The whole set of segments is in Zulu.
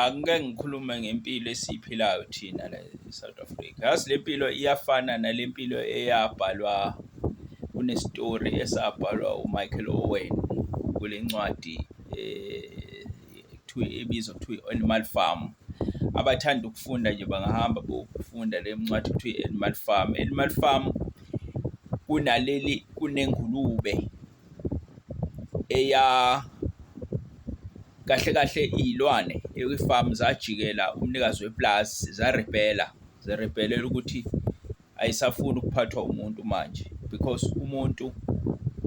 Angike ngikhulume ngempilo esiyiphilayo thina la e-South Africa, yazi le mpilo iyafana nale mpilo eyabhalwa kunestori esabhalwa uMichael Owen kule ncwadi ekuthiwa ebizwa kuthiwa i-Animal Farm. Abathanda ukufunda nje bangahamba bokufunda le ncwadi kuthiwa i-Animal Farm. Animal Farm kunaleli kunengulube eya kahle kahle iy'lwane ekwifamu zajikela umnikazi wepulazi zarebhela zerebhelela ukuthi ayisafuni ukuphathwa umuntu manje because umuntu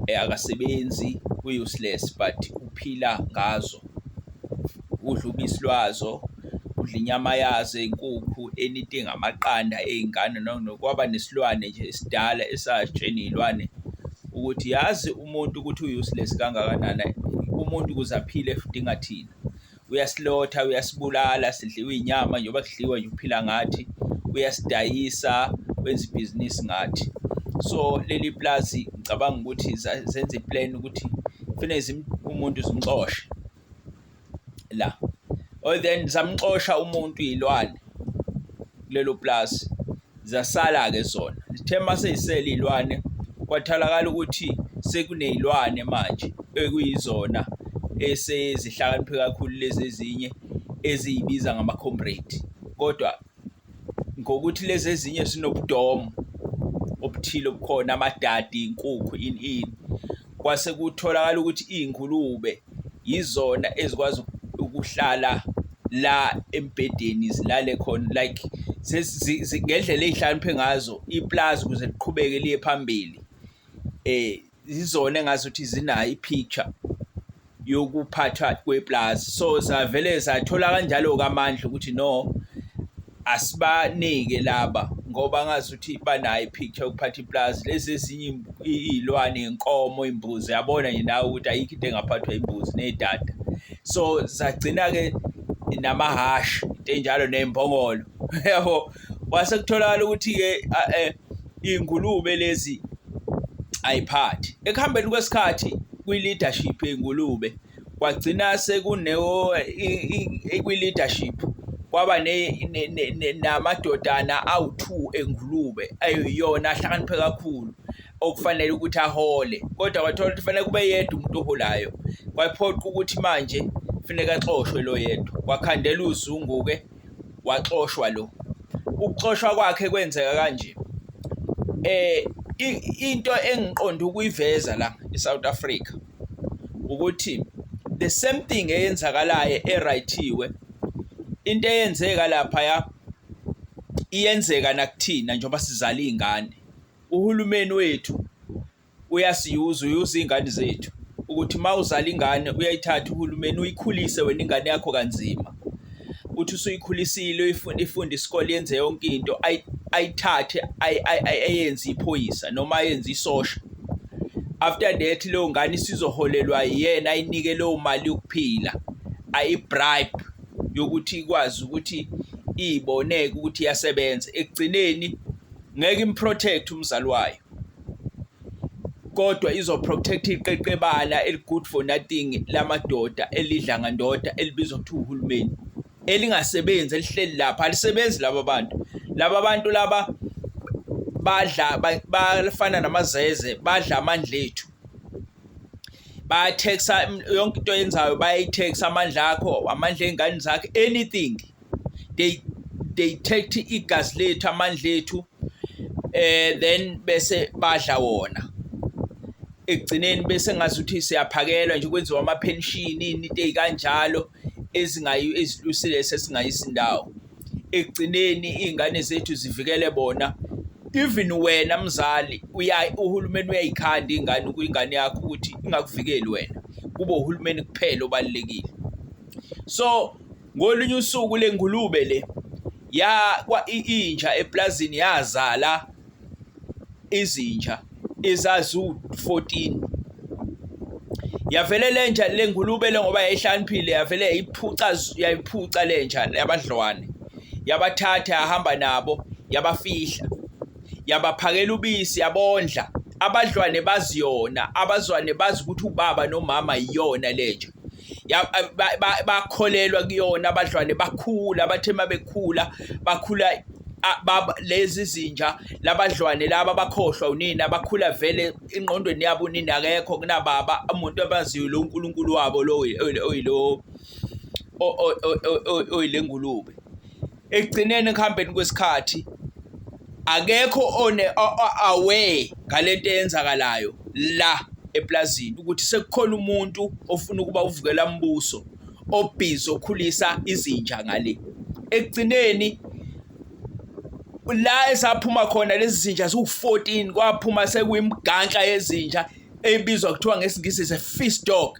eh, akasebenzi useless but uphila ngazo udla ubisi lwazo udla inyama yazo ey'nkukhu anything amaqanda ey'ngane nokwaba nesilwane nje esidala esatsheni iy'lwane ukuthi yazi umuntu ukuthi u-useless kangakanani umuntu ukuze aphile udinga thina uyasilotha uyasibulala sidliwa inyama njengoba kudliwa nje uphila ngathi uyasidayisa wenza ibhizinisi ngathi so leli plazi ngicabanga ukuthi zenza iplan ukuthi kufanele umuntu zimxoshe la or oh, then zamxosha umuntu iy'lwane kulelo pulazi zasala-ke zona zithe uma sey'sele iy'lwane kwatholakala ukuthi sekuney'lwane manje ekuyizona esezihlakaniphe kakhulu lezi ezinye eziyibiza ngama-comrade kodwa ngokuthi lezi ezinye zinobudomu obuthile obukhona amadadi inkukhu ini ini kwase kutholakala ukuthi iy'ngulube yizona ezikwazi ukuhlala la embhedeni zilale khona like ngendlela ey'hlakaniphe ngazo iplazi ukuze liqhubeke liye phambili um yizona engazuthi zinayo i-picture yokuphathwa kweplazi so zavele zathola kanjalo kamandla ukuthi no asibanike laba ngoba ngazuthi banayo i-picture yokuphatha iplazi lezi ezinye iy'lwane inkomo imbuzi yabona nje nawe ukuthi ayikho into engaphathwa imbuzi nedada so zagcina-ke namahhashi into enjalo nembongolo yabo kwase kutholakala ukuthi-ke eh, iy'ngulube lezi ayiphathi ekuhambeni kwesikhathi kwi-leadership yey'ngulube kwagcina sekunewo kwi-leadership kwaba namadodana awu-two engulube ayiyona ahlakaniphe kakhulu okufanele ukuthi ahole kodwa kwathola ukuthi fanele kube yedwa umuntu oholayo kwaphoqa ukuthi manje funeka axoshwe lo yedwa wakhandela uzungu-ke waxoshwa lo ukuxoshwa kwakhe kwenzeka kanje eh into engiqonda ukuyiveza la eSouth Africa ukuthi the same thing eyenzakalayo eRighthiwe into eyenzeka lapha ya iyenzeka nakuthina njengoba sizala izingane uhulumeni wethu uyasiyuza uyuza iy'ngane zethu ukuthi uma uzala ingane uyayithatha uhulumeni uyikhulise wena ingane yakho kanzima uthi usuyikhulisile uyifunde ifunde isikole yenze yonke into ayithathe ayenze iphoyisa noma ayenze isosha after that leyo ngane isizoholelwa yena ayinike leyo mali yokuphila ayibribe yokuthi ikwazi ukuthi iyiboneke ukuthi iyasebenza ekugcineni ngeke improtect umzali wayo kodwa izoprotect iqeqebala eligood for nothing lamadoda elidla ngandoda elibizwa ukuthi uhulumeni elingasebenzi elihleli lapha alisebenzi laba bantu laba bantu laba badla bafana namazeze badla amandla ethu bayathexa yonke into yenzayo bayayitexa amandla akho amandla engane zakhe anything they they take igazi lethu amandla ethu eh then bese badla wona ekugcineni bese ngazi ukuthi siyaphakelwa nje kwenziwa ama pension into ezikanjalo ezingayi ezilusile sesingayisi indawo ekugcineni izingane zethu zivikele bona even wena mzali uya uhulumeni uyayikhanda ingane kuyingane yakho ukuthi ingakuvikeli wena kube uhulumeni kuphela obalekile so Ngolunye usuku le ngulube le ya kwa inja eplazini yazala izinja izazu 14 yavele lenja lengulube le ngoba yayihlaniphile yavele yayiphuca yayiphuca lenja yabadlwane yabathatha yahamba nabo yabafihla yabaphakela ubisi yabondla abadlwane baziyona abazwane bazi ukuthi ubaba nomama iyona lenja bakholelwa kuyona abadlwane bakhula bathe uma bekhula bakhula lezi zinja labadlwane laba bakhohlwa unina bakhula vele ingqondweni yabo unina akekho kunababa umuntu abaziyo lo uNkulunkulu wabo lo oyilo oyilengulube ekugcineni ekuhambeni kwesikhathi akekho one away ngalento eyenzakalayo la eplazini ukuthi sekukhona umuntu ofuna ukuba uvukela umbuso obhizi okhulisa izinja ngale ekugcineni la esaphuma khona lezi zinja ziwu-14 kwaphuma sekuyimganhla yezinja ebizwa kuthiwa ngesingisi se-feast dog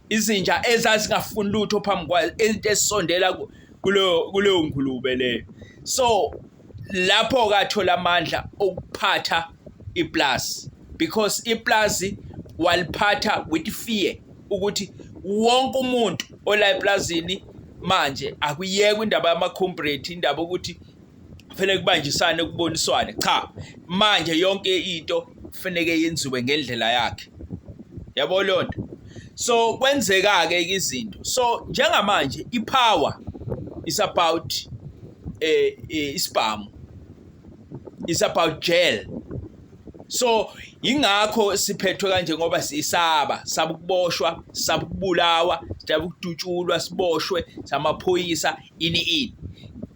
izinja ezazingafuni lutho phambi kwayo into esondela kuleyo kuleyo ngulube leyo so lapho kathola amandla okuphatha iplus because iplus waliphatha with fear ukuthi wonke umuntu ola eplazini manje akuyekwe indaba yamakhombrate indaba ukuthi kufanele kubanjisane kuboniswane cha manje yonke into kufanele yenziwe ngendlela yakhe yabo leyo nto so kwenzeka-ke izinto so njengamanje i-power is about eh, eh isibhamu is about jail so ingakho siphethwe kanje ngoba sisaba saba ukuboshwa saba ukubulawa saba ukudutshulwa siboshwe samaphoyisa ini ini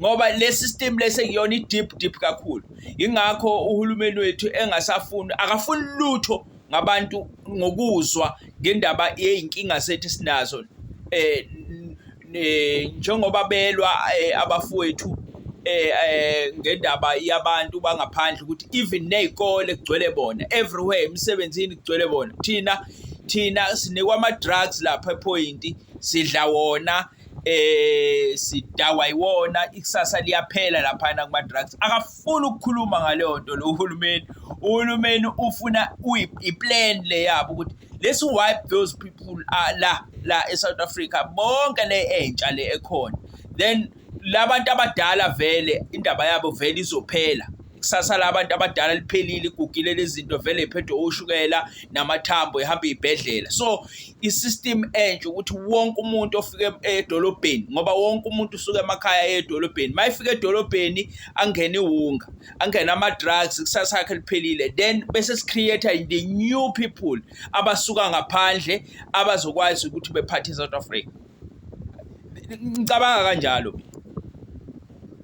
ngoba le system lese kuyona i-deep deep kakhulu yingakho uhulumeni wethu engasafuni akafuni lutho ngabantu ngokuzwa ngendaba yey'nkinga sethu esinazo eh njengoba belwa eh, abafowethu eh, eh ngendaba yabantu bangaphandle ukuthi even nezikole kugcwele bona everywhere emsebenzini kugcwele bona thina thina sinikwa ama drugs lapha epoint sidla wona eh sidawa iwona ikusasa liyaphela laphana kuma drugs akafuni ukukhuluma ngaleyo nto lo uhulumeni uhulumeni ufuna uyiplan le yabo ukuthi let's wipe those people uh, la la eSouth Africa bonke le entsha le ekhona then labantu abadala vele indaba yabo vele izophela kusasa labantu abadala liphelile igugile lezinto vele iphethwe ushukela namathambo ehamba ibhedlela so i-system entsha ukuthi wonke umuntu ofike edolobheni ngoba wonke umuntu usuke emakhaya edolobheni uma efika edolobheni angene iwunga angene ama-drugs ikusasa yakhe liphelile then bese si-create-a the new people abasuka ngaphandle abazokwazi ukuthi bephathe i-south africa ngicabanga kanjalo mina